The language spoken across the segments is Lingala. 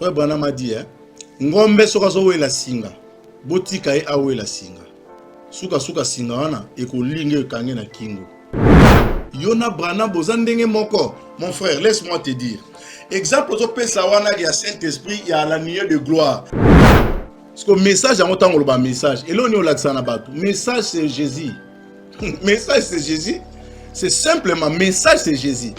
Frère Branham a dit, hein, ngombe soki azowela singa botika ye awela singa sukasuka singa wana ekolinga ekange na kingo yo na brana boza ndenge moko mon frère laisse moi te dire exemple ozopesa wana ya saint esprit ya la nuit de gloire siko message yango ntango oloba message eloo nini olakisa na bato message c'est jésus message c'est jésus c'est simplement message c'est jésus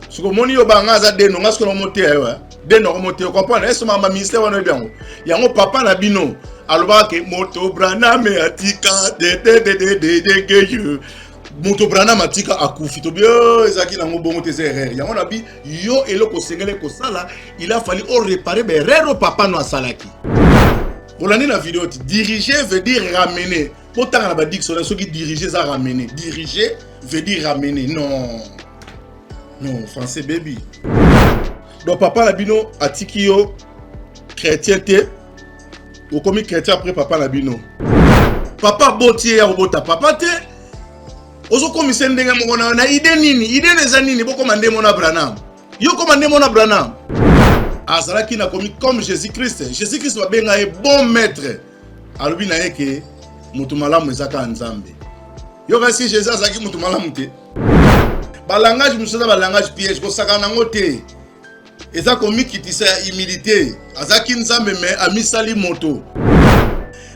siko omoni yo banga aza deno nga sikoyo nakomoteya yo eh? deno akomoteya comprendre ese mama ministère wana oyebi yango yango papa na bino alobaka ke moto braname atika dededededegeye moto braname atika akufi tobi oh, ezalaki nango bongo te eza erreur yango nabi yo eloko osengeli kosala il a fallu o repare baerreur oyo papa no asalaki olandi na video ti dirige veut dire ramener botanga na badictionnaire soki dirige eza ramener dirige veut dire ramener non non français baby donc papa na bino atiki yo chrétien te okomi chrétien après papa na bino papa aboti ye ya kobota papa te ozokomisa ndenge moko na na ide nini ide na eza nini bokoma nde mona branam yo koma nde mona branam azalaki na komi comme jésus christ jésus christ babenga ye bon maître alobi na ye ke moto malamu eza kaka nzambe yo kasi jésus azalaki moto malamu te balangage mosusu eza balangage piège kosakana yango te eza komikitisa ya humilité azalaki nzambe me amisali moto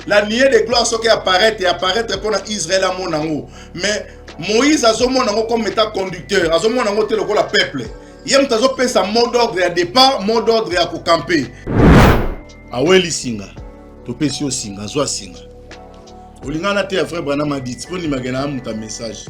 la nie de gloire soki apparaître apparaître mpo na israel amona yango mais moïse azomona yango comme état conducteur azomona yango te lokola peuple ye moto azopesa mot d'ordre ya départ mot d'ordre ya kokampe aweli singa topesi yo singa zwa singa olingana te ya vrai branama dit mpo ndimake na ya moto ya message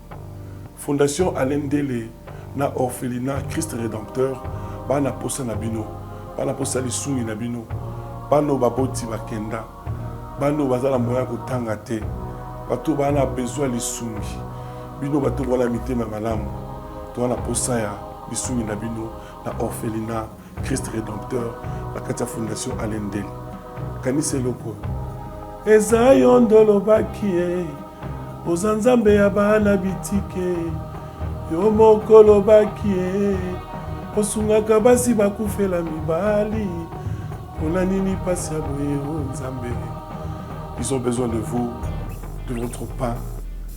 Fondation Alain Ndele na Orphelinat Christ Redempteur ba na posa na bino, ba na posa ya lisungi na bino. Bana oyo baboti bakenda, bana oyo baza na moyen ya kotanga te, bato oyo ba na besoin ya lisungi. Bino bato oyo boza na mitema ya malamu, toza na posa ya lisungi na bino na Orphelinat Christ Redempteur na kati ya Fondation Alain Ndele. Kanisa eloko eza yo nde olobaki ye oza nzambe ya bana bitike yo moko olobaki ye osungaka basi bakufela mibali mpona nini mpasi ya boye o nzambe ils ont besoin de vous de votre pas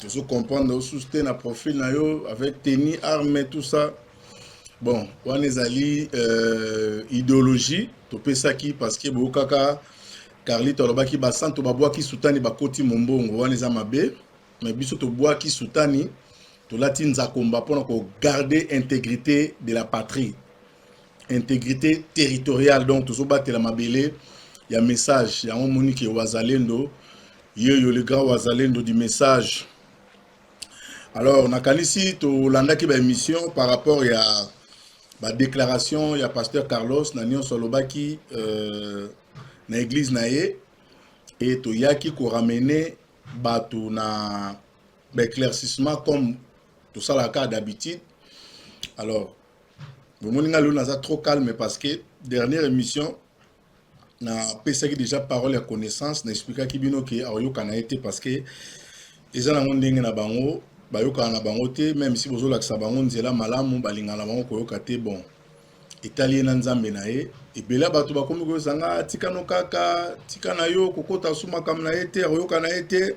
tozo comprendre yo susu te na profil na yo avec tenue arme tout ça bon wana ezali euh, idéologie topesaki parce que boyokaka carlito alobaki basanto babwaki sutani bakoti mombongo wana eza mabe me biso tobwaki sutani tolati nzakomba mpona kogarde intégrité de la patrie integrite territoriale donc tozobatela mabele ya message yango omoni ke wazalendo yeyo le grand wazalendo du message alors nakanisi tolandaki baémission par rapport ya badéclaration ya pasteur carlos na nyonso alobaki euh, na église na ye e toyaki koramene bato na baéclaircissement comme tosalaka d'habitude alors bomoni ngai lelo naza trop calme parce que dernière émission napesaki déjà parole ya connaissance na explikaki bino ke akoyokana ye te parce que eza nango ndenge na bango bayokana na bango te meme si bozolakisa bango nzela malamu balingana na bango koyoka te bon etali ye na nzambe na ye ebele ya bato bakomi koyosanga tika no kaka tika na yo kokota su makambo na ye te akoyoka na ye te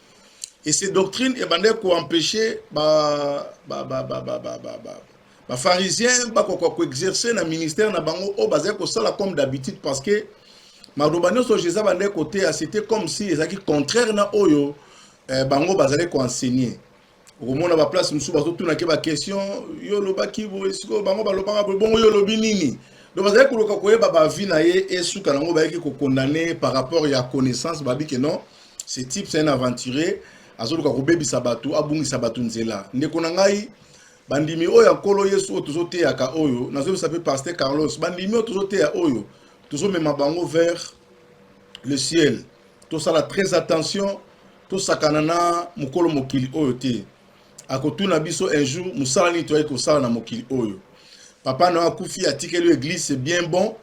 et ces doctrines ebandaki koempêche bapharisien bakoka koexerce na ministère na bango oyo bazali kosala comme d'habitude parce que maloba nyonso jesus abandaki koteya c'était comme si ezalaki contraire na oyo eh, bango bazali koenseigne okomona ba place mosusu bazotuna ke ba question yo olobaki boye sikoyo bango balobaka boye bongo yo olobi nini donc bazali koluka koyeba bavi na ye esuka nango bayaki kokondane par rapport ya connaissance babi ke non ce type c'est un aventurier azoluka kobebisa bato abungisa bato nzela ndeko na ngai bandimi oyo ya nkolo yesu oyo tozoteyaka oyo nazoyebisa mpe paster carlos bandimi oyo tozoteya oyo tozomema bango vers le ciel tosala très attention tosakana na mokolo mokili oyo te akotuna biso un jour mosala nini toyaki kosala na mokili oyo papa na yo akufi atikeli yo eglise c'est bien bon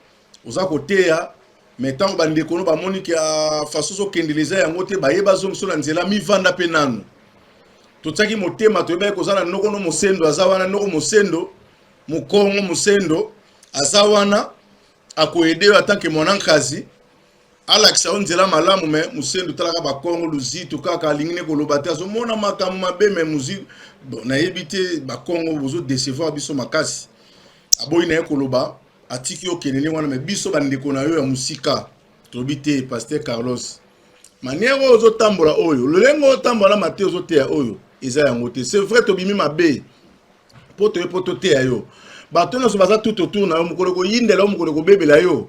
oza koteya mais ntango bandeko no bamoni ke ah, faso ozokendela eza yango te baye bazongiso na nzela mivanda mpe nanu totiaki motema toyebaki koza na noko no mosendo aza wana noko mosendo mokongo mosendo aza wana akoyede yo atanke mwana nkazi alakisa yo nzela malamu me musendu talaka bakongo luzitu kaka alingi ne koloba te azomona makambo mabe me muzitu bon, nayebi te bakongo bozo decevoir biso makasi aboyi na ye koloba atiki yo kende ndenge wana me biso bandeko na yo ya mosika tolobi te paster carlos manière oyo ozotambola oyo lolenge otambola na mate ozoteya oyo eza yango te c'est vrai tobimi mabe mpo toye mpo toteya yo bato nyonso baza tout autour na yo mokolo koyindela yo mokolo kobebela yo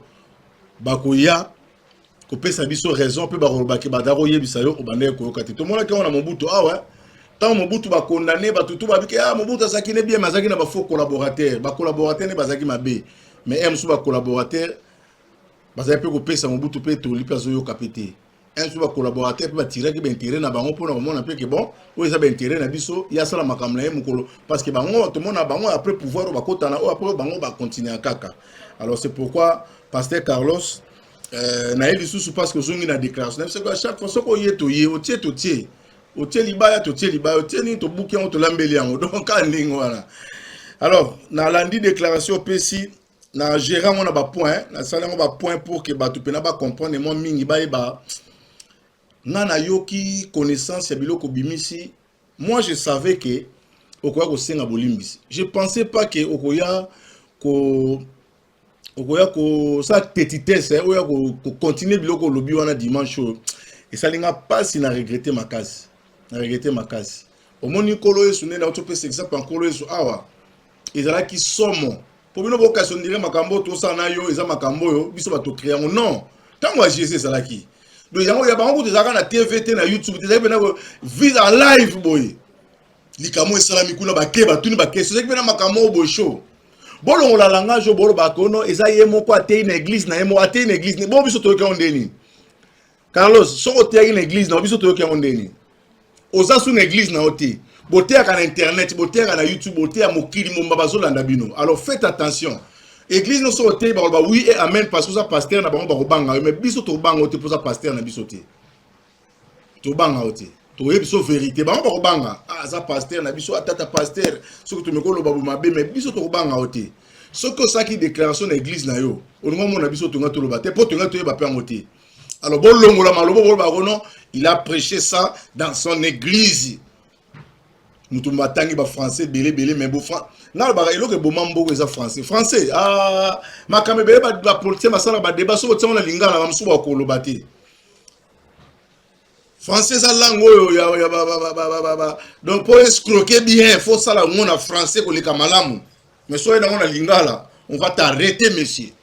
bakoya kopesa biso raison mpe bakoloba ke baza koyebisa yo obandaki koyoka te tomonaki yango na mobutu awa ah ntango mobutu bakondane bato tu babike ah mobutu azalaki ne bien me azalaki na bafaux collaborateur bacollaborateur nde bazalaki mabe mais ya mosusu bacollaborateur bazali mpe kopesa mobutu mpe toli mpe azoyoka mpe te un jour bacollaborateur mpe batiraki baintérêt na bango mpona komona mpe ke bon oyo eza baintérêt na biso ye asala makambo na ye mokolo parce que bango tomona bango après pouvoir oyo bakotana oyo après bango bacontinua kaka alors c'est pourquoi pasteur carlos euh, na ye lisusu parce que ozongi na déclaration na biso à chaque fois soki oye toye otie totie otie libaya totie libaya otie nini tobuki yango tolambeli yango donc kaka ndenge wana alors nalandi déclaration opesi na gere yango na bapoint nasali yango bapoint pour ke bato mpena bacomprendre mwa mingi bayeba ngai nayoki connaissance ya biloko obimisi moi je savais ke okoya kosenga bolimbisi je pensais pas ke okoya ko okoya kosala petitesse eh, oya kocontinue biloko olobi wana dimanche oyo esali nga mpasi na regrete makasi na regrete makasi omoni nkolo yesu nde nauti opesa exemple ya nkolo yesu awa ezalaki somo po bino bokasi ondire makambo tosala na yo eza makambo oyo biso bato créa yango non ntango ya jesus ezalaki do yango ya bango kutu ezalaka na tv te na youtube te ezalaki mpena vise en live boye likambo esalami kuna bake batuni bakesi ezalaki mpena makambo oyo boye show bolongola langage oyo bolobaka ono eza ye moko ateyi na eglise na ye moko ateyi na eglise bo biso toyoki yango nde nini carlos soki oteyaki na eglise nao biso toyoki yango nde nini oza su na eglise nao te boteyaka na internet boteyaka na youtube boteya mokili momba bazolanda bino alors faites attention eglise nyonso oteyi bakoloba oui et amen parce que oza pasteur na bango bakobanga yo mais biso tobanga yo te mpo oza pasteur na biso te tobanga yo te toye biso verité bango bakobanga ah, aza pasteur na biso atata pasteur soki tomeki oloba bomabe mais biso tokobanga yo te soki osalaki déclaration na église na yo olingi omona biso tonga toloba te mpo tonga toyeba mpe yango te alors bolongola maloba boloba yango non il a prêché ça dans son église moto batangi bafrançais ebele ebele mai bofran nalobaka eloko eboma mboko eza français français ah, makambo ebele bapolitien basala badeba soki otiango na lingala bamosusu bakoloba te français eza langue oyo donc mpo escroke bien fo osala yango na français koleka malamu mais soki nango na lingala on va t'arrêter monsieur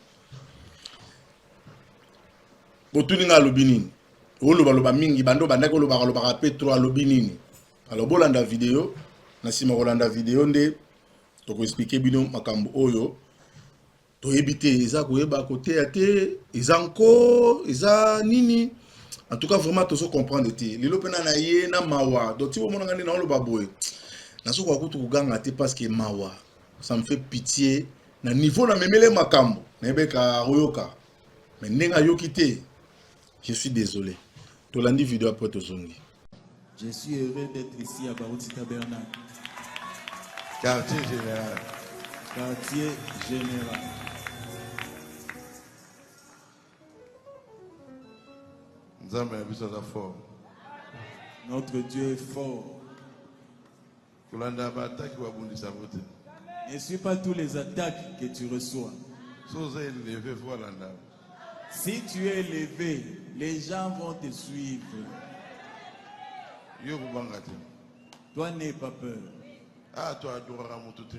botuni nga alobi nini oloba loba mingi bando bandaki olobaka lobaka pe trop alobi nini alors bolanda video na nsima kolanda video nde tokoexplike bino makambo oyo toyebi te eza koyeba koteya te eza nko eza nini en tout cas vraiment tozo comprendre te lelo mpena na ye na mawa donc ti bomonanga nde naoloba boye nazokoka kutu koganga te parce que mawa ça me fait pitié na niveau na memele makambo nayebeka akoyoka mais ndenge ayoki te je suis désolé tolandi video après tozongi je suis heureux d'être ici à baruti tabernacle quartier général quartier général nzambe na biso aza fort notre dieu est fort Kolanda ba attaque ba bundisa yango te. Ne suis pas tous les attaques que tu reçois. So oza eleve faut alanda. Si tu es élevé, les gens vont te suivre. Yo kobanga te. Toi n'aie pas peur. Ah toi adoraka moto te.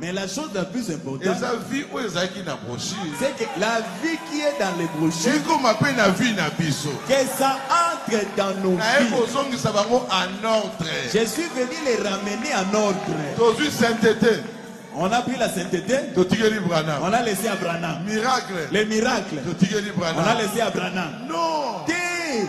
Mais la chose la plus importante, eza vie oyo ezalaki na brochure. C'est que la vie qui est dans les brochures. Ekoma pe na vie na biso. Que ça entre dans nos na vies. Na ekozongisa bango en ordre. Je suis venu les ramener en ordre. Tozui sainteté. On a pris la sainteté. Totikeli Branham. On a laissé à Branham. Miracle. Les miracles. Totikeli Branham. On a laissé à Branham. Non. Dis.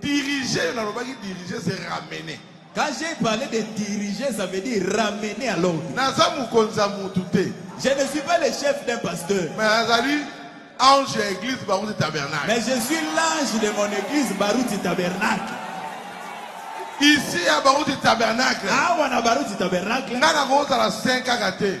Diriger, nalobaki diriger c'est ramener. Quand j'ai parlé de diriger, ça veut dire ramener à l'ordre. Naza mokonzi ya mutu te. Je ne suis pas le chef d'un pasteur. Mais azali ange ya église Baruti Tabernacle. Mais je suis l'ange de mon église Baruti Tabernacle. Ici à Baruti Tabernacle. Awa na Baruti Tabernacle. Nga nakozala saint kaka te.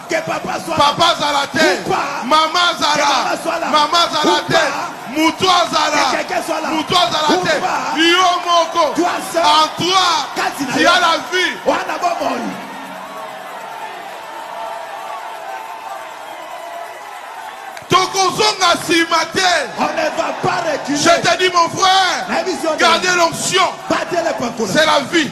papa azala te mama azala mama azala te moto azala moto azala te yo moko en toi tu as la vie tokozonga nsima te je te dis mon frère gardez l'onction c'est la vie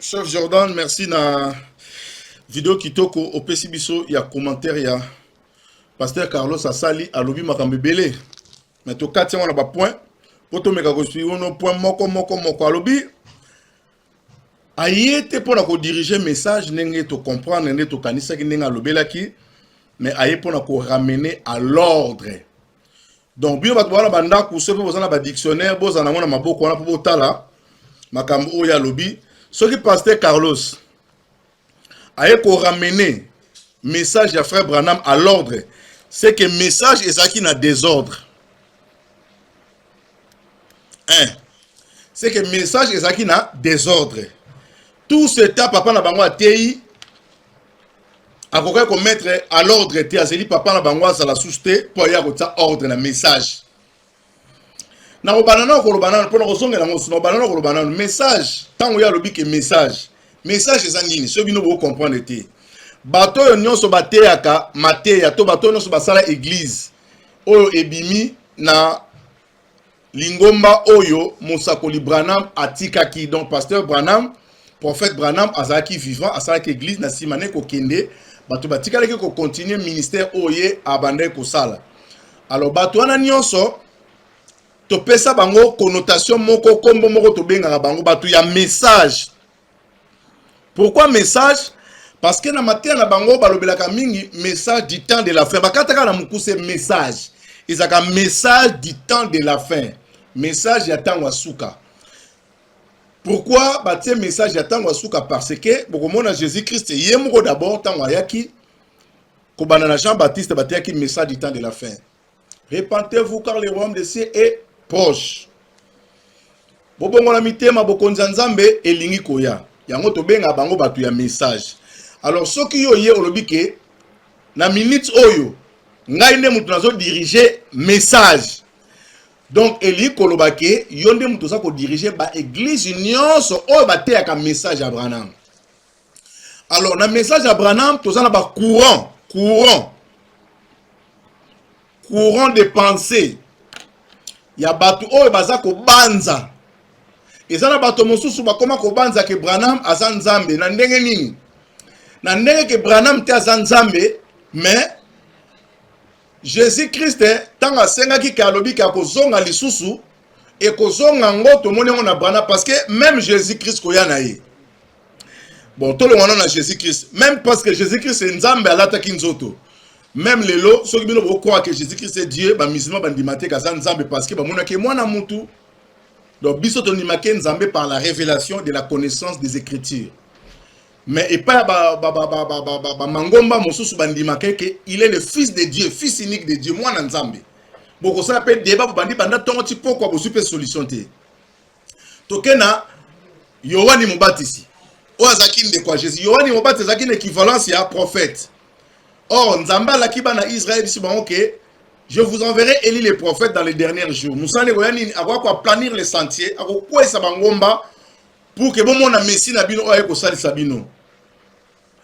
Chef Jordan, merci na video kitoko opesi biso ya commentaire ya Pasteur Carlos asali alobi makambo ebele mais tokati yango na ba point mpo tomeka kosui ono point moko moko moko alobi aye te mpo na kodirige message ndenge tocomprendre nde tokanisaki ndenge alobelaki mais aye mpo na koramene à l'ordre donc bino bato bawana bandako soki boza na badictionnaire bozala nango na maboko wana mpo botala makambo oyo alobi soki paster carlos aye koramene message ya frère branham à l'ordre c'est que message ezalaki na désordre hein c'est que message ezalaki na désordre tout ce temps papa na bango ateyi akokaki ko mettre à l'ordre te azeli papa na bango azala susu te mpo aye akotia ordre na message nakobanda nao koloba nano mpo nakozongela yango susu nakobanda nao koloba nano message ntango ye alobi ke message message eza nini soki bino bokocomprendre te bato oyo nyonso bateyaka mateya to bato oyo nyonso basala eglize oyo ebimi na lingomba oyo mosakoli branham atikaki donc pasteur branham prophète branham azalaki vivant asalaki église na nsima ne kokende bato batikalaki kocontinue ministère oyo ye abandaki kosala alors bato wana nyonso topesa bango connotation moko nkombo moko tobengaka bango bato ya message Pourquoi message Parce que na mateya na bango balobelaka mingi message du temps de la fin. Bakataka na mukuse message. Ezaka message du temps de la fin. Message ya tango asuka. Pourquoi batie message ya tango asuka parce que bokomona Jésus-Christ ye moko d'abord tango ayaki kobanda na Jean-Baptiste bateyaki message du temps de la fin. Repentez-vous car le royaume de cieux est proche. Bobongola mitema bokonzi ya Nzambe elingi koya. Yango tobenga bango bato ya message. Alors soki yo ye olobi ke na minute oyo ngai nde moto nazo diriger message. Donc elingi koloba ke yo nde moto oza ko diriger ba eglise nyonso oyo bateyaka message ya Branham. alors na message ya branham toza na bacourant courant courant de pensée ya bato oyo baza kobanza eza na bato mosusu bakoma kobanza ke branham aza nzambe na ndenge nini na ndenge ke branham te aza nzambe mais jésus krist ntango asengaki ke alobi ke akozonga lisusu ekozonga yango tomoni yango na branham parce que même jésus krist koya na ye bon tolongwana na jésus christ même parce que jésus christ nzambe alataki nzoto même lelo soki bino bokroire que jésus christ est dieu bamusulman bandima te kaza nzambe parce que bamonaki mwana mutu donc biso tondimaki nzambe par la révélation de la connaissance des écritures mais epai ya bamangomba mosusu bandimaka eke il est le fils de dieu fils unique de dieu mwana nzambe bokosala mpe deba bobandi banda ntongo ti pokwa bozwi mpe solution te toke na yohani mobatisi oyo azalaki ndeko ya jésus yohani mobatisi azalaki na équivalence ya prophète or nzambe alaki bana israel biso bango ke je vous enverrai eli les prophètes dans les derniers jours mosala ekoya nini akoya koaplanir le sentier akokweyisa bangomba pour ke bomona messi na bino oyo aye kosalisa bino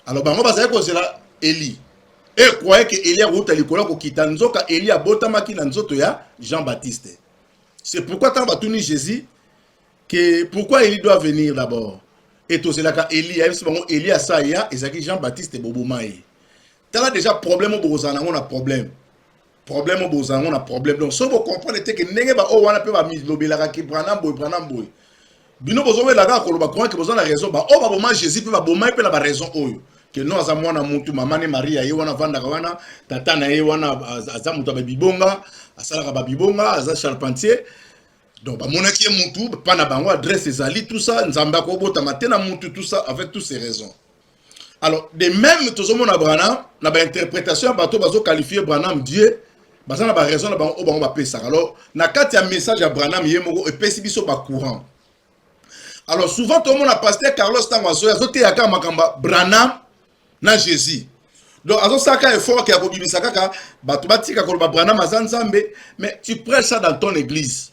alors bango bazali kozela eli e croye ke eli akouta likolo akokita nzoka eli abotamaki na nzoto ya jean baptiste C'est pourquoi tant batuni Jésus que pourquoi Elie doit venir d'abord et tozelaka Elie ayebisi bango Elie asa ya ezalaki Jean-Baptiste boboma ye tala déjà problème oyo bokozala nango na problème problème oyo bokozala nango na problème donc soki bocomprendre te ke ndenge baoyo wana mpe bamilobelaka ke branam boye branam boye bino bozo wela kaka koloba croyant que boza na raison ba oyo baboma Jésus pe babomai pe na ba raison oyo que non aza mwana mutu mama ne Maria ye wana vandaka wana tata na ye wana aza mutu ba bibonga asalaka ba bibonga aza charpentier donc bamonaki ye mutu pa na bango adresse ezali tout ça nzambe akobotama te na mutu tout ça avec toutes ces raisons alors de même tozomona branham na bainterprétation ya bato bazoqualifie branham dieu baza na baraison na bango oyo bango bapesaka alors na kati ya message ya branham ye moko epesi biso bacourant alors souvent tomona paster carlos ntango azoya azoteya kaka makambo ya branham na jésus donc azosalaka effort ke ya kobimisa kaka bato batika koloba branham aza nzambe mais tu prêche ça dans ton église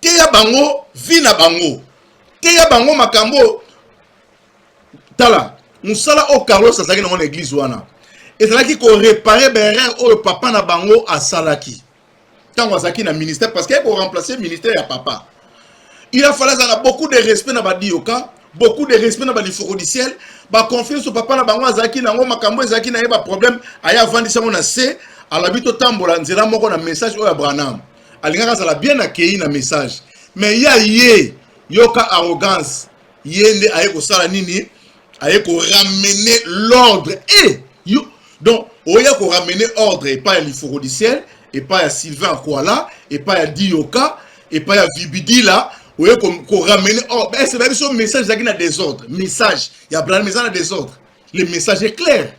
teya bango vie na bango teya bango makambo tala mosala oyo carlos azalaki nango na eglise wana ezalaki korepare berere oyo papa na bango asalaki ntango azalaki na ministère parce que ye koremplace ministère ya papa il a fallu azala beaucoup de respect na badioka beaucoup de respect na balifokodiciel baconfiance oyo papa na bango azalaki nango makambo ezalaki na ye baproblème aye avandisi yango na se alobi totambola nzela moko na message oyo ya branham alingaka azala bien akeyi na message mais ya ye yoka arrogance ye nde aye kosala nini aye koramene l'ordre e eh, yo donc oya koramene ordre epai ya lifokodisiel epai ya sylvain akwala epai ya diyoka epai ya vibidila oye koramene ordre ese bayebi so message ezalaki na desordre message ya branham eza na desordre le message est clair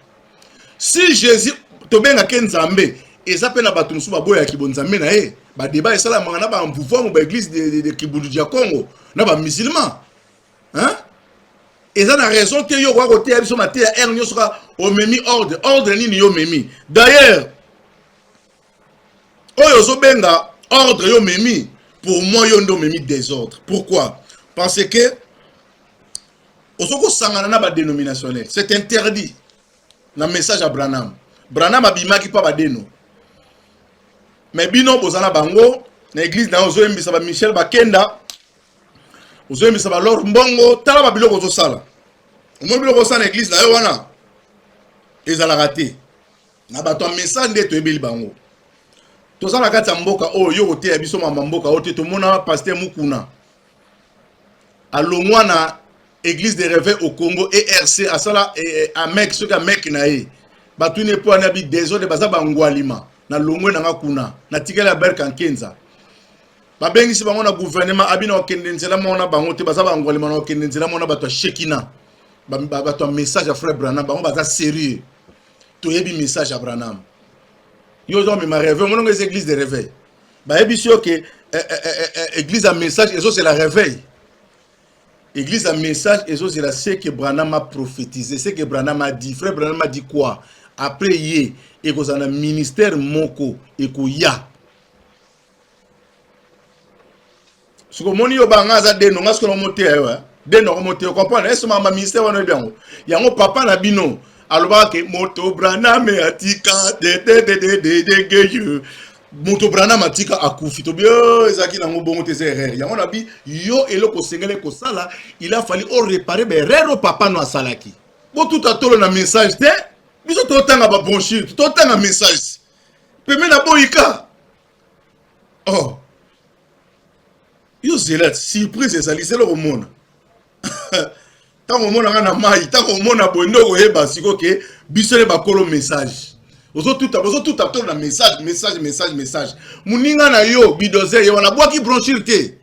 si jésus tobengake nzambe eza mpe na bato mosusu baboyaka kibonzambe na ye badeba esalamaka na bamvuvuamu baeglise de, de, de kibundu dia congo na bamusulman hein? eza na raison te yo okoka koteya biso mateya heure nyonso kaka omemi ordre ordre nini yo omemi d'ailleurs oyo ozobenga ordre yo memi pour moi yo nde omemi désordre pourquoi parce que ozo kosangana na badénominationnel c'est interdit na message ya branham branham abimaki mpa badeno me bino boza na bango na église na yo ozoyembisa ba michel bakenda ozoyembisa ba lor mbongo tala ba biloko ozosala omoni biloko osala na église na yo wana ezalaka te na bato ya mesa nde toyebeli bango toza na kati ya mboka oyo oh, yo koteya biso mama mboka oyo te tomona paster mukuna alongwa na église de reve au congo erc asala eh, eh, amek soki amek na ye batuni epo wana bi desordre baza bangwalima na longwe na nga kuna natikali ya berka nkenza babengisi bango na gouvernement abina okende nzela moko na bango te baza bangwalima na okende nzela moko na bato ya shekina bato ya message ya frère brana bango baza sérieux toyebi message ya branham yo ozo mema réveil omonango eza église de réveil bayebisi yo ke eh, eh, eh, église ya message ezozela réveil église ya message ezozela ce que branham a prophétisé ce que branham a dit frère branham a dit quoi après ye ekozala na ministère moko ekoya siko moni yo banga aza deno nga sikoyo moteya yo eh. deno ako moteya comprendre ese mama ministère wana oyebi yango yango papa na bino alobaka ke moto braname atika dededededegeye moto braname atika akufi tobi oh, ezalaki nango bongo te eza erreur yango na bi yo eloko osengeli kosala il a fali orepare baerreur oyo papa no asalaki botuta tolo na message te biso totanga babronchire totanga message peme na boyika oh yo zela surprise ezali zela okomona ntango omonaka na mai ntango omona boye nde okoyeba siko ke biso nde bakolo message ozotuta bozotuta to na message message message message moninga na yo bidozer ye wana bwaki bronchire te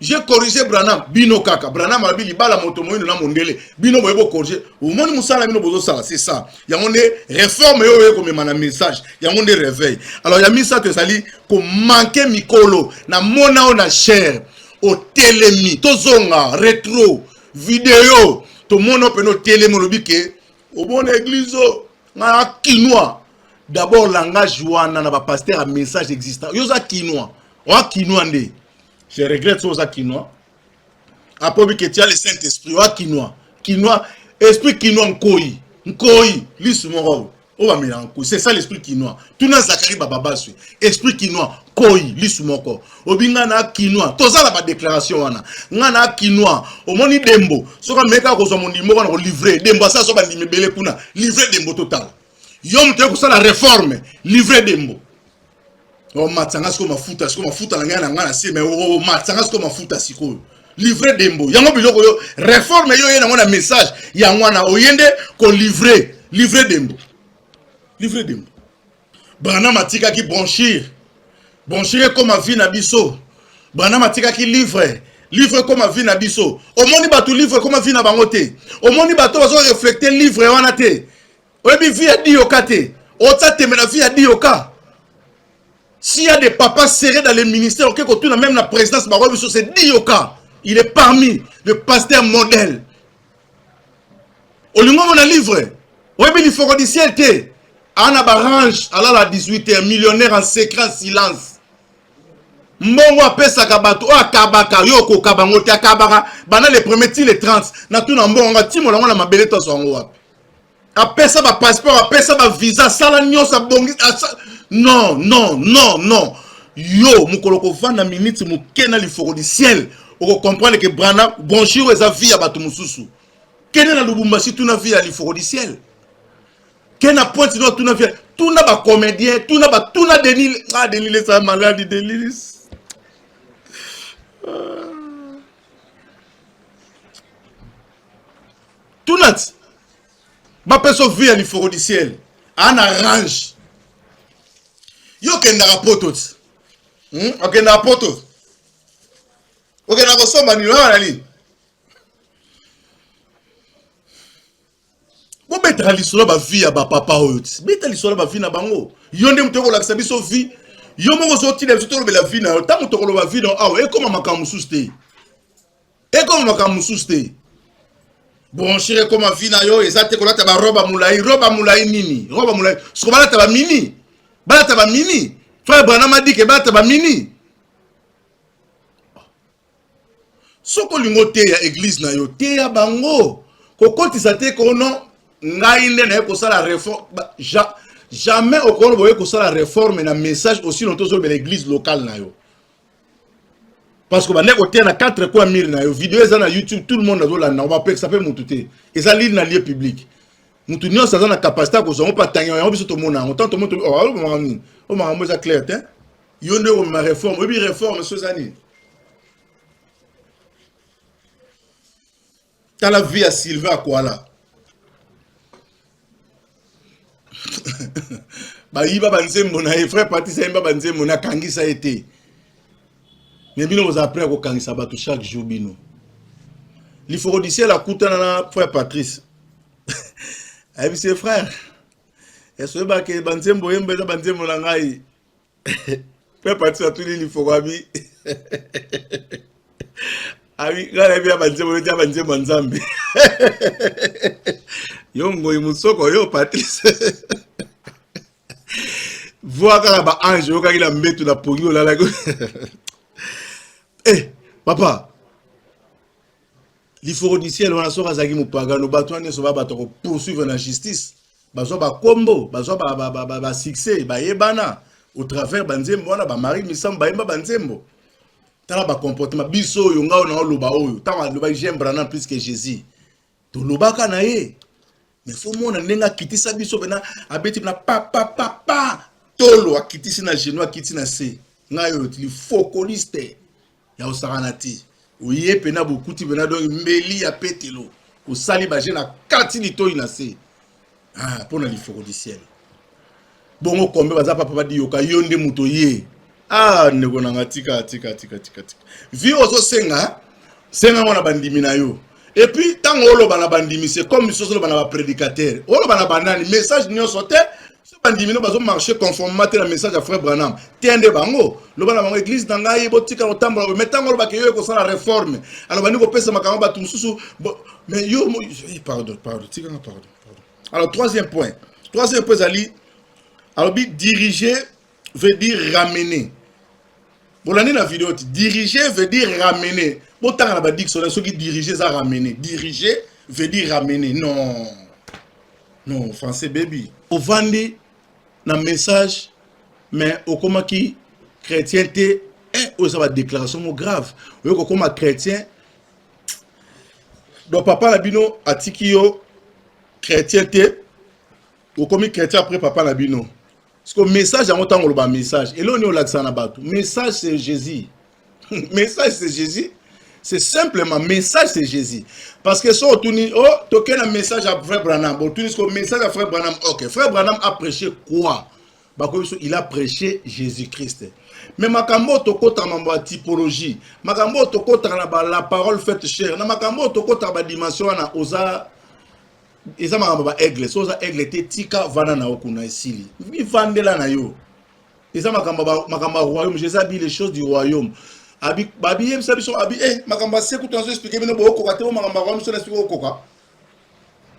je corrige branam bino kaka branam alobi libala moto moyino na mondele bino boye bocorrige omoni mosala bino bozosala c'est ça yango nde réforme oyo oye komema na message yango nde réveil alors ya misato ezali komanke mikolo na mona oyo na chaire otelemi tozonga retro video tomona mpena otelemi olobi ke obona eglise o ngai na kinois d'abord langage wana na bapaster ya message exista yo oza kinois oa kinois nde je regrette so oza kinois akobi ke tia le saint esprit oa kinois kinois esprit kinois nkoi nkoi lisu moko oyo oyo bamelaka nkoi c'est ça l'esprit kinois tuna zakari bababaswi esprit kinois koi lisu moko obi ngai na kinois toza na badéclaration wana ngai na kinois omoni dembo soki ameki kaka kozwa mondimi moko na kolivre dembo asala so bandimi ebele kuna livre dembo totala yo moto ye kosala reforme livre dembo omatisa nga sikoyo mafuta sikoyo mafuta na ngai na ngai na se me omatisa nga sikoyo mafuta sikoyo livre dembo yango biloko yo reforme yo oye nango na message yango wana oye nde kolivre livre dembo livre dembo branam atikaki branchir branchir ekoma vie na biso branam atikaki livre livre ekoma vie na biso omoni bato livre ekoma vie na bango te omoni bato bazo reflekte livre wana te oyebi vie ya diyoka te otya tembe na vie ya diyoka s'il y a des papas serrés dans les ministères oke kotuna même na présidence bango biso c'est diyoka il est parmi le pasteur modèle olingi omona livre oyebi lifoko du ciel te ana barange alala 18 heures millionnaire en secret silence mbongo apesaka bato oyo akabaka yo okoka bango te akabaka banda le premier ti le 30 natuna mbongo yango atimola yango na mabele toso yango wapi apesa ba passeport apesa ba visa asala nyonso abongi asa... non non non non yo mokolo kovanda miniti moke na lifoko du ciel okokomprendre ke brana branchir oyo eza vie ya bato mosusu kende na lubumbashi tuna vie ya lifoko du ciel kende na pointe nord tuna vie tuna bacomédien tuna batuna denis ah, denis lesa maladi denis ah. tunati bapeso vie ya lifoko du ciel ana range yo okendaka poto ti hmm? okendaka poto okendaka kosomba nini oyo na nini bobetaka lisolo bavie ya bapapa oyo ti beta lisolo bavie na bango yo nde moto okolakisa biso vie yo moko ozotinda biso tolobela vie na yo ntango tokoloba vie na yo awa ekóma makambo mosusu te ekoma makambo mosusu te bronchire ekoma vi na yo eza te kolata baroba molai roba molai nini roba molai soko balata bamini balata bamini frère branam adike balata bamini soki olingi oteya eglize na yo teya bango kokotisa te kono ngai nde naye kosala reforme ja, jamais okono boye kosala reforme na message osi lonto ozolobela eglize locale na yo parce que bande koteya na 4 coin mire na yo video eza na youtube tout le monde azolanda bapekisa mpe motu te eza lile na lieu public motu nyonso aza na capacité ya kozwa yango mpe atangi yango biso tomona yango ntango tomoni tomakambo nini oyo makambo eza clair te yo nde okomema réforme oyebi réforme so eza nini tala vie ya sylvain akwala bayiba banzembo na ye frère patrice ayemba banzembo na akangisa ye te me bino bozala prêt ya kokangisa bato chaque jour bino lifokodisiel akutana na frère patrice ayebisi ye frère esoyebake banzembo oyemba eza banzembo na ngai Père Patrice atuli lifoko abi abi ngai nayebi ya banzembo neti ya banzembo ya nzambe yo ngoyi mosoko yo Patrice voa kaka ba ange oyokaki na mbetu na pongi olalaki eh papa Liforodisiel wana soki azalaki mopagano bato wana nyonso ba bato ya kopoursuivre na justice bazwa bakombo bazwa basuccès bayebana au travers banzembo wana bamari misambo bayemba banzembo tala bacomportement biso oyo ngai naoloba oyo ntango alobaki jean branam plus que jésus tolobaka na ye me fo mona ndenge akitisa biso pena abeti pena papapapa tolo akitisi na genou akiti na se ngai oyo tili fokoliste ya osakana te oye pena bokuti pena donki mbeli ya petelo osali baje na kati litoi na se ah, mpo na lifokolisiele bongo kombe baza papa badiyoka yo nde moto ye ah ndeko na nga tika tika tika tika tika vie ozosenga senga yango na bandimi na yo epuis ntango oloba na bandimi se comme biso ozoloba na baprédicateur oloba na banani message nyonso te so bandimi no bazomarche conformement te na message ya frère branham te nde bango loba na bango église na ngai botika kotambola boye mai ntango olobaka yo ekosala réforme alobandi kopesa makambo bato mosusu mais yo eh, pardon pardon tikanga pardon alors troisième point troisième point ezali alobi diriger veut dire ramener bolandi na video ti diriger veut dire ramener botanga na badictionnaire soki diriger eza ramener diriger veut dire ramener non non français baby ovandi na message mais okomaki chrétien te eh, oyo eza badéclaration mo grave oyo kokoma chrétien donc papa na bino atiki yo chrétien te okomi chrétien après papa na bino siko message yango ntango oloba message eloo nini olakisa na bato message c'est jésus message c'est jésus c'est simplement message c'est jésus parce que so otuni o oh, tokei na message ya frère branham otuni siko message ya frère branham ok frère branham a prêché quoi bakoyebi biso il a prêche jésus christ mais makambo oyo tokotaka mambo ya typologie makambo oyo tokotaka na ba la parole faite chère na makambo oyo tokotaka badimension wana oza eza makambo ba aigle so oza aigle te tika vanda na yo kuna esili mivandela na yo eza makambo makambo ya royaume jeza bi les choses du royaume babiyebisa biso abi eh, makambo ya se kutu nazo explike bino bokoka te o makambo ya royaume so na explike okoka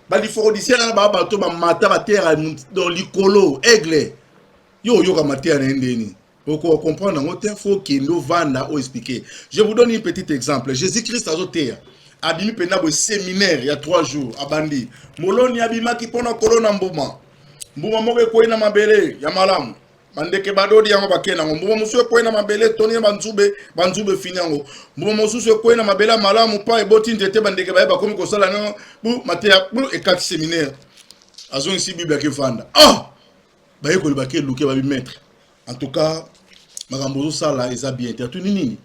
ba liforodisien kaka ba bato bamata bateyaka dans likolo aigle yo oyoka mateya na ye ndeni okoka comprendre yango te fo okende ovanda o expliquer je vous donne une petite exemple jésus christ azoteya abimi mpenza boye séminaire ya 3 jours abandi moloni abimaki mpo na kolona mbuma mbuma moko ekwei na mabele ya malamu bandeke badodi yango bakei nango mbuma mosusu ekwei na mabele etoni na banzube banzube efini yango mbuma mosusu ekwei na mabele ya malamu mpa eboti nzete bandeke baye bakomi kosala nango bu mateya bu ekati seminaire azongisi bible yake efanda ah! bayekoli bake eluke babi maître en tout cas makambo ozosala eza bien te atuni nini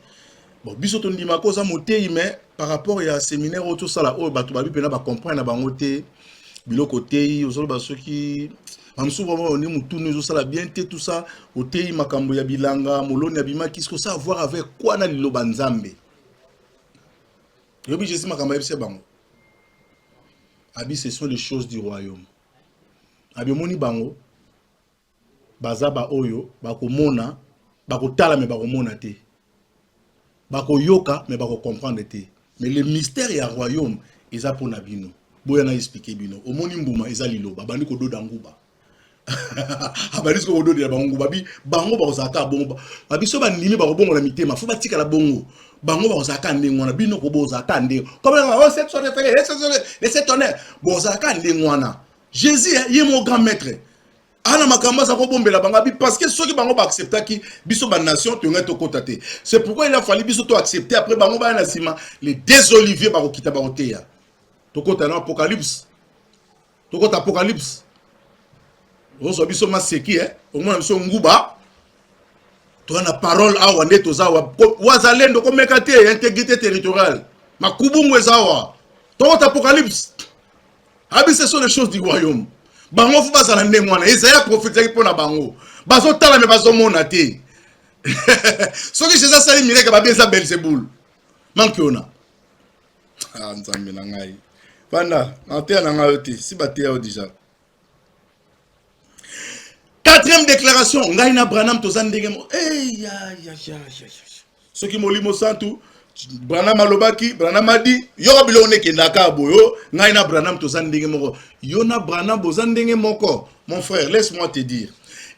Bon, biso tondima ko oza moteyi mais par rapport ya seminaire oyo tosala oyo bato babi mpena bacomprendre na bango te biloko oteyi ozoloba soki bamosusu vraimen oni motunu ezosala bien te tout ça oteyi makambo ya bilanga moloni abimaki ce que ça avoir avec quoi na liloba nzambe yobi jésus makambo ayebisa bango abi ce sont les choses du royaume abi omoni bango baza baoyo bakomona bakotala me bakomona te bakoyoka me bakocomprendre te mais le mystère ya royaume eza mpo na bino boya na explike bino omoni mbuma eza liloba abandi kododa nguba abandi siko kododela bango nguba bi bango bakozala kaka bongo babiso bandimi bakobongola mitema fo batikala bongo bango bakozala kaka ndenge wana bino kobozala kaka ndenge bozala kaka ndenge wana jesus ye mo grand maître ana makambo aza kobombela bango abi parce que soki bango baacceptaki biso banation toyongai tokota te c'est pourquoi il a fallu biso toaccepte après bango baya na nsima les deux olivier bakokita bakoteya tokota na apocalypse tokota apocalypse ozwa biso maseki eh? omona biso nguba toza na parole awa nde toza awa wazalendo komeka te integrité territoriale makubungu eza awa tokota apocalypse abi ce sont les choses du royaume bango fo bazala ndenge wana ezaya profetaki mpo na bango bazotala me bazomona te soki jesus asali mileke babi eza belzebul manki ona ah, nzambe na ngai banda mateya na ngai yo te si bateya yo deja Quatrième déclaration, ngai na Branham toza ndenge mo. Eh ya ya ya ya. Soki molimo santu Branham alobaki, Branham adi, yoka biloko nekendaka boyo, ngai na Branham toza ndenge moko. Yo na Branham boza ndenge moko. Mon frère, laisse-moi te dire.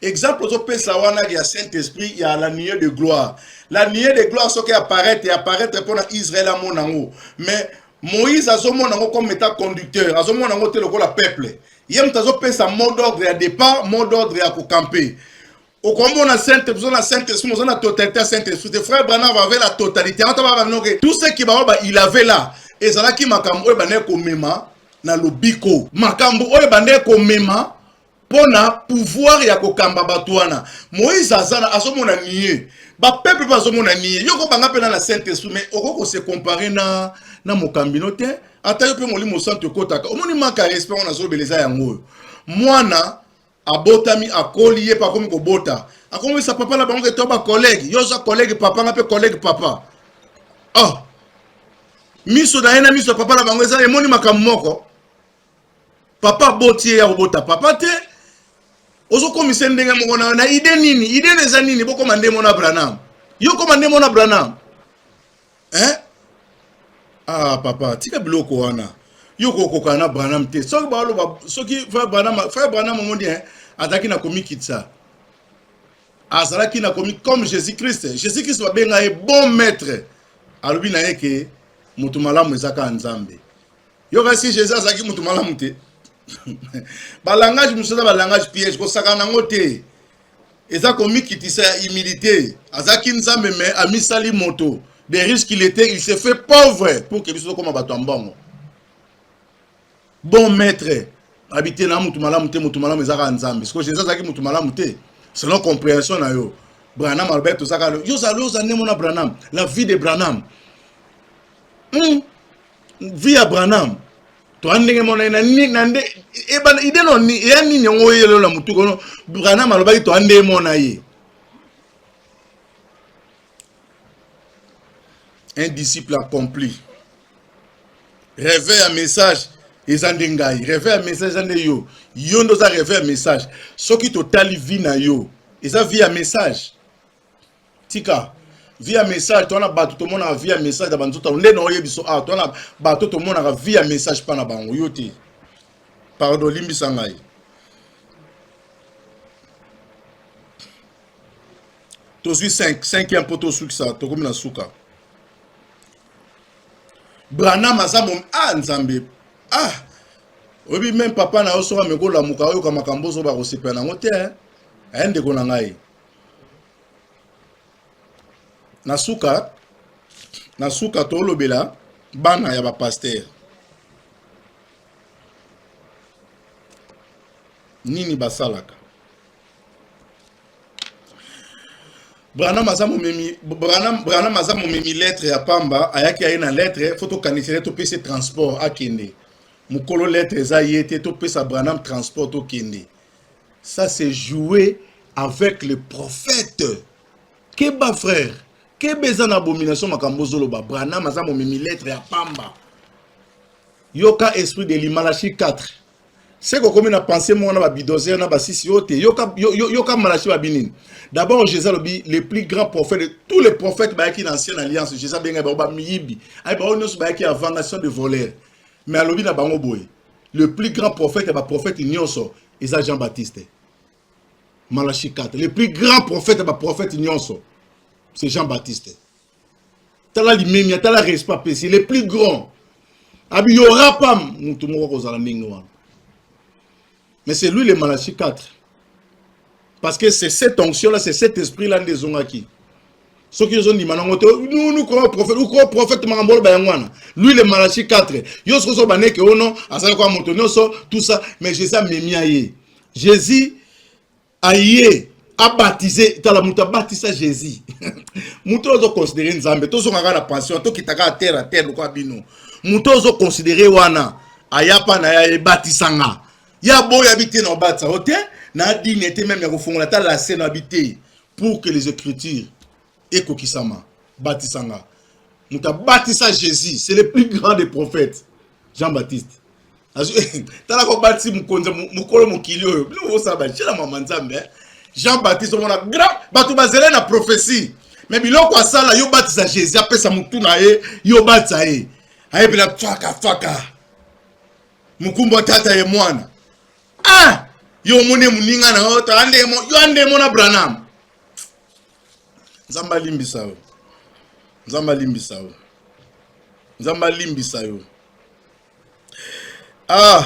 Exemple ozopesa wana ya Saint-Esprit ya la nuée de gloire. La nuée de gloire soki apparaître et apparaître mpona Israël amona yango. Mais Moïse azomona yango comme état conducteur, azomona yango te lokola peuple. ye moto azopesa mot d'ordre ya départ mot d'ordre ya kokampe okomona sainte biso na sainte esprit oza na totalité ya sainte esprit te frère branham avait la totalité yango taba bamino ke tout ce qui baoyo ba il avait là ezalaki makambo oyo ebandaki komema na lobiko makambo oyo ebandaki komema mpo na pouvoir ya kokamba bato wana moïse aza na azomona nie bapeuple mpe azomona nie yo kobanga mpe na na sainte esprit mais okoki kose compare na na mokambi no te ata yo mpe molimo santu ekotaka omoni manka ya respect wana azolobela eza yango oyo mwana abotami akoli ye mpe akomi kobota akomisa papa na bango ke to bakolege yo oza kolege papa nga mpe kolege papa oh miso na ye na miso ya papa na bango eza emoni makambo moko papa aboti ye ya kobota papa te ozokomisa ndenge moko na na ide nini ide na eza nini bokoma nde mona branam yo koma nde mona branam eh? ah papa tika biloko wana yo kokokana na branam te soki baoloba soki frère branam frère branam omoni eh, azalaki na komikitisa azalaki na komi comme jésus christ jésus christ babenga ye bon maître alobi na ye ke moto malamu eza kaka nzambe yoka si jesus azalaki moto malamu te balangage mosusu eza balangage piège kosakana yango te eza komikitisa ya humilité azalaki nzambe me amisali moto de risque il était il se fait pauvre pour ke biso tokoma bato ya mbongo bon maître abi te na motu malamu te motu malamu eza kaka nzambe sikoyo jesus azalaki motu malamu te selon comprehension na yo branham alobaki tozaka yo ozali oza nde mona branham la vie de branham hmm. vie ya branham toa ndenge mona na ni na nde ebana ide no ni ya nini yango oyelo na mutu kono branham alobaki toa nde mona ye un disciple accompli rêve ya message eza nde ngai rêve ya message eza nde yo yo nde oza rêve ya message soki totali vie na yo eza vie ya message tika via message to wana bato tomonaka via message na banzoto nde na oyebi so awa to wana bato tomonaka via message mpa na bango yo te pardon limbisa ngai tozwi 5 5 ya mpo tosukisa tokomi na suka branam aza mom ah nzambe ah oyebi meme papa na yo soki amekolamuka oyoka makambo ozoba kosepela nango te eh? eh, ndeko na ngai na suka na suka tolobela bana ya bapastere nini basalaka branam aza momemi branam branam aza momemi lettre ya pamba ayaki aye na lettre fo tokanisele topesi transport akende mokolo lettre eza ye te topesa branam transport tokende Ça c'est jouer avec le prophète. Keba frère, keba eza na abomination makambo zoloba. Branham aza momemi lettre ya pamba. Yoka esprit de l'Imalachi 4. C'est qu'on comme na pensée mon ba bidozer na ba sisi yote. Yoka yoka Malachi ba binini. D'abord Jésus lobi le plus grand prophète de tous les prophètes ba qui l'ancienne alliance. Jésus benga ba miyibi. Ay ba onyo ba qui avant nation de voleurs. Mais alobi na bango boye. le plus grand prophète ya ba prophète nyonso eza Jean Baptiste Malachi 4 le plus grand prophète ya ba prophète nyonso c'est Jean Baptiste tala limemia tala respect apesi le plus grand abi y aura pas mutu moko akozala ndenge wana mais c'est lui le Malachi 4 parce que c'est cette onction là c'est cet esprit là nde ezongaki soki ozondima nango te nous croyons prophète ou croyons prophète makambo oloba yango wana lui le malachi 4 yo soki ozoba neke ono azali kwa moto nyonso tout ça mais jésus amemi aye jésus aye abatize tala moto abatisa jésus moto oyo ozoconsidere nzambe tozonga kaka na pension tokita kaka terre a terre lokwa bino moto ozoconsidere wana ayapa na ye ebatisanga ya boyo abi te na obatisa o te na dini ete meme ya kofungola ata lase na abi te pour que les écritures ekokisama batisa nga moto abatisa jésus c'est le plus grand des prophètes jean baptiste tala kobatisi mokonzi mokolo mokili oyo bino bosala batiela mama nzambe eh. jean baptiste omona grand bato bazele na prophétie me biloko asala yo batisa jésus apesa motu na ye yo batisa ye ayebela faka faka mokumba tata ye mwana ah! yo omoni moninga na yo yo andemo na branam nzambe alimbisa yo nzambe alimbisa yo nzambe alimbisa yo ah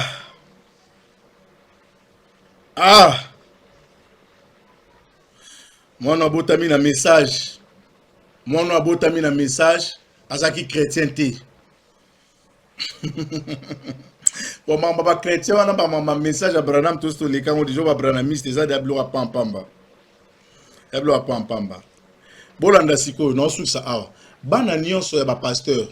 ah mwana abotami na message mwana abotami na message azalaki chrétien te bon mama ba chrétien wana ba mama message ya branam tosi toleka yango deja ba branamiste eza deya biloko ya pampamba ya biloko ya pampamba bolanda sikoyo naosukisa awa bana nyonso ya bapasteur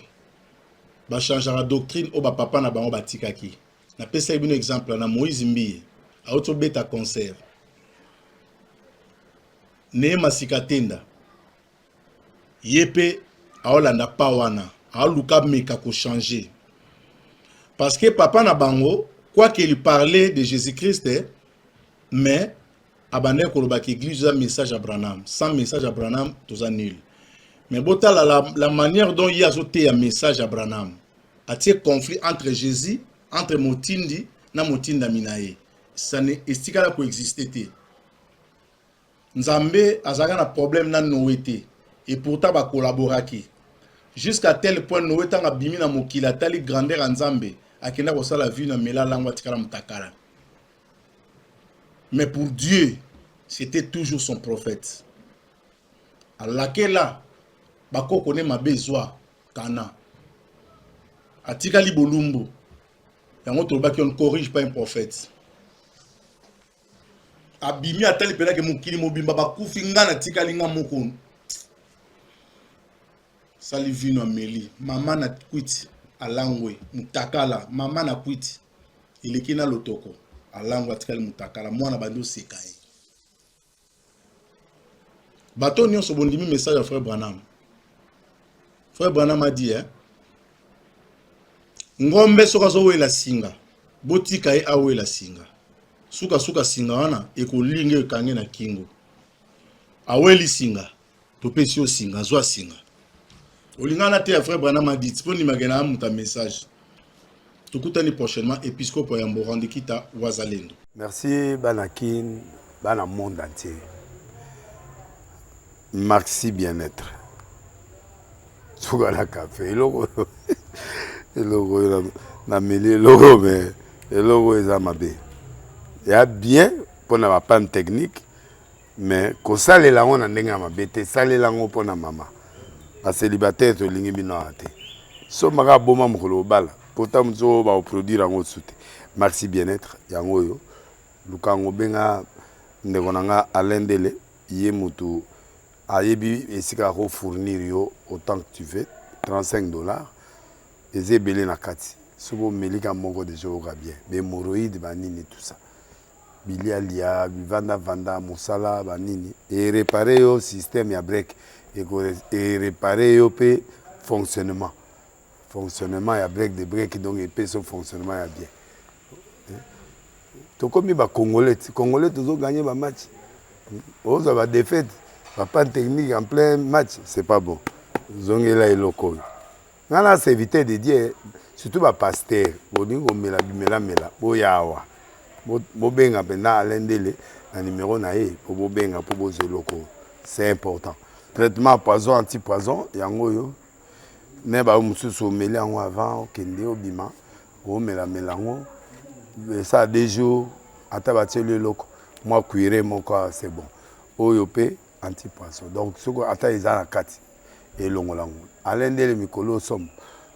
bachangeaka doctrine oyo bapapa na bango batikaki napesaki bino exemple na moïse mbiye auti obeta concert neye masika tenda ye pe aolanda pa wana aoluka ameka ko changer parce que papa na bango quoi qu'il parlait de Jésus-Christ mais abandaki koloba que église eza message ya Branham sans message ya Branham toza nul mais botala la, la manière dont ye azoteya message ya Branham atie conflit entre Jésus entre motindi na motindami na ye ça ne estikala koexiste te Nzambe azalaka na problème na Noe te et pourtant ba collaboraki jusqu'à tel point Noe tanga bimi na mokili atali grandeur ya Nzambe akenda kosala vie na mela lango atikala mutakala mais pour Dieu c'était toujours son prophète alakela bakoko ne mabe ezwa kana atikali bolumbu yango tolobaki on ne corrige pas un prophète abimi atali mpena ke mokili mobimba bakufi nga natikali nga moko sali vino ameli mama na kwiti alangwe mutakala mama na kwiti eleki na lotoko alangwe atikali mutakala mwana bandi oseka ye Bato nyonso bondimi message ya frère Branham. Frère Branham a dit hein. Ngombe soki azowela singa, botika ye awela singa. Suka suka singa wana ekolinga ekange na kingo. Aweli singa. topesi yo singa zwa singa olingana na te ya vrai branam adit mpo ndimake na amuta message tokutani prochainement episkopo ya mborandi kita wazalendo merci bana kin bana monde entier maxi bien-être suka na kafe eloko oyo eloko oyo nameli eloko oyo me eloko oyo eza mabe ya bien mpo na bapane technique Mais kosalela yango na ndenge ya mabe te, salela yango mpo na mama. Bacelibataire tolingi bino awa te. Somba kaka boma mokolo obala, mpo ntango mosusu oyo bakoproduire yango osusu te. Maxi Bien-être yango oyo, luka yango, benga ndeko na nga Alain Ndele, ye motu ayebi esika ako fournir yo autant que tu veux 35 dollars eza ebele na kati soki omeli ka moko deja oyoka bien bemoroïde banini tout ça bilia lia bivanda vanda musala ba nini e reparer yo système ya break eko e reparer yo pe fonctionnement fonctionnement ya break de break donc epesi yo fonctionnement ya bien tokomi ba congolais ti congolais tozo gagner ba match ozwa ba défaite ba panne technique en plein match c'est pas bon zongela eloko oyo Nga na serviteur de Dieu surtout ba pasteur bolingi komela bimela mela boya awa bobenga mpenza Alain Ndele na numero na ye mpo bobenga mpo bozwa eloko c'est important traitement poison anti poison yango oyo me bayo mosusu omeli yango avant okende obima omelamela yango esala deux jours ata batieli eloko mwa cuire moko c'est bon oyo mpe anti poison donc soki ata eza na kati elongola yango alain ndele mikolo oyo somo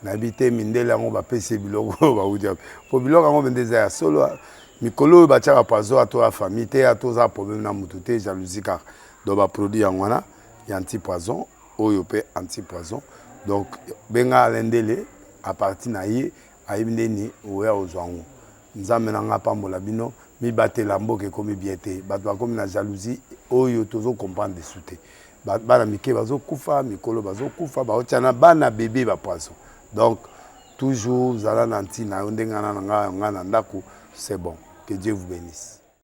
nayebi te mindele yango bapesi ye biloko oyo bauti wapi mpo biloko yango mende eza ya solo mikolo oyo batiaka pazo ato ya famille te ato oza problème na motu te jalousie kaka donc baproduit yango wana ya anti poison oyo mpe anti poison donc benga alain ndele apartir na ye Ayebi nde nini oya ozua yango. Nzambe na ngai apambola bino mibatela mboka ekomi bien te batu bakomi na jalousie oyo tozo comprendre lisusu te bana mike bazo kufa mikolo bazo kufa baotia na bana bebe ba poisson donc toujours zala na ntina yo ndenge na ngai na ndako c'est bon que Dieu vous bénisse